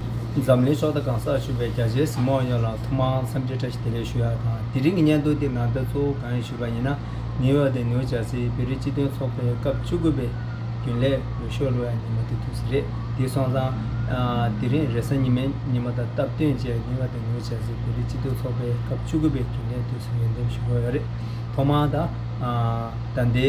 འཛམ་གླིང་ཕྱོགས་མཐའ་གང་སར་བཞུགས་པའི་རྒྱ་ཆེའི་གཟིགས་མོ་ཡོངས་ལ་ཐུགས་མང་འཚམས་འདྲི་བཀྲ་ཤིས་བདེ་ལེགས་ཞུ་ཡག་དང་དེ་རིང་གི་སྙན་ཐོ་འདི་ནང་དོན་གཙོ་བོ་གང་ཡིན་ཞུས་པ་ཡིན་ན་ནིའུ་ཡོག་དེ་ནིའུ་ཇར་སིའི་བེ་རི་སྤྱི་མཐུན་ཚོགས་པའི་སྐབས་བཅུ་དགུ་པའི་རྒྱུན་ལས་འོས་ཤོག་ལོ་ཡ་ཉི་མ་དེ་དུས་རེད་དེ་སོང་ཙང། དེ་རིང་རེས་གཟའ་ཉི་མའི་ཉི་མ་དང་སྟབས་བསྟུན་བཅས་ནིའུ་ཡོག་དེ་ནིའུ་ཇར་སིའི་བེ་རི་སྤྱི་མཐུན་ཚོགས་པའི་སྐབས་བཅུ་དགུ་པའི་རྒྱུན་ལས་དུས་སུ་ངེས་འདེམས་ཞུ་དགོས་ཡོད་རེད་ཐོག་མར་ད་ལྟའི་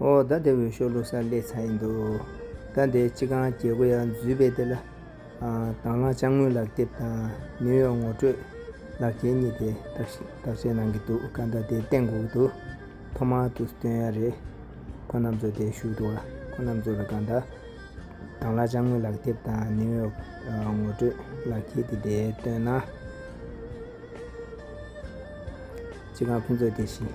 ཨོ་ད་དེ་འོས་ཤོག་ལོག་ས་སླེ་ཚར་ཡིན་འདུག་ད་འདི་སྤྱི་ཁང་རྒྱལ་པོ་ཡག་འཛུལ་བས་དེ་ལ་དྭང་བླངས་དཔྱ་དངུལ་ལག་དེབ་དང་ནིའུ་ཡོག་ངོ་སྤྲོད་ལག་འཁྱེར་གཉིས་དེ་བརྟག་དཔྱད་གནང་གི་འདུག་ག་ད་དེ་གཏན་འགོག་འདུག་ཐོག་མར་དུ་སྟོན་ཡ་རེད་ཁོ་རྣམས་ཚོ་དེ་ཞུ་འདུག་ཨ་ཁོ་རྣམས་ཚོ་ལ་ག་ད་དྭང་བླངས་དཔྱ་དངུལ་ལག་དེབ་དང་ནིའུ་ཡོག་ངོ་སྤྲོད་ལག་འཁྱེར་དེ་དེ་སྟོན་ན་སྤྱི་ཁང་ཕུན་ཚོགས་དེ་བཞིན།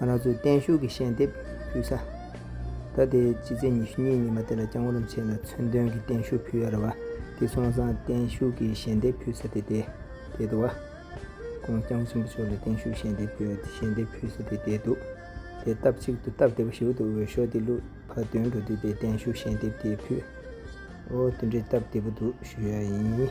ང་རང་ཚོའི་བརྟན་བཞུགས་ཀྱི་ཤེལ་འདེབས་ཕུལ་ས། ད་ལྟའི་ཕྱི་ཚེས་ཉི་ཤུ་གཉིས་ཉི་མ་དེ་ལ་བསྐྱང་བར་བྱས་ལ་མཚོན་དོན་གྱི་བརྟན་བཞུགས་ཕུལ་ཡར་བ་དེ་ཚོང་བཟང་བརྟན་བཞུགས་ཀྱི་ཤེལ་འདེབས་ཕུལ་ས་དེ་དེ་དེད་དོ། ཁོང་བསྐྱང་བ་ཆེན་པོ་མཆོག་ལ་བརྟན་བཞུགས་ཤེལ་འདེབས་ཕུལ་བ་ཤེལ་འདེབས་ཕུལ་ས་དེ་དེད་དོ། དེ་སྟབས་གཅིག་ཏུ་སྟབས་བདེ་བོ་ཞིག་འདུག་འོས་ཤོག་དེ་བླུག་ཕ་དོན་འགྲོ་དུས་དེ་བརྟན་བཞུགས་ཤེལ་འདེབས་དེ་ཕུལ། འོ་དེ་འདྲའི་སྟབས་བདེ་བོ་འདུག་ཞུ་ཡ་ཡིན།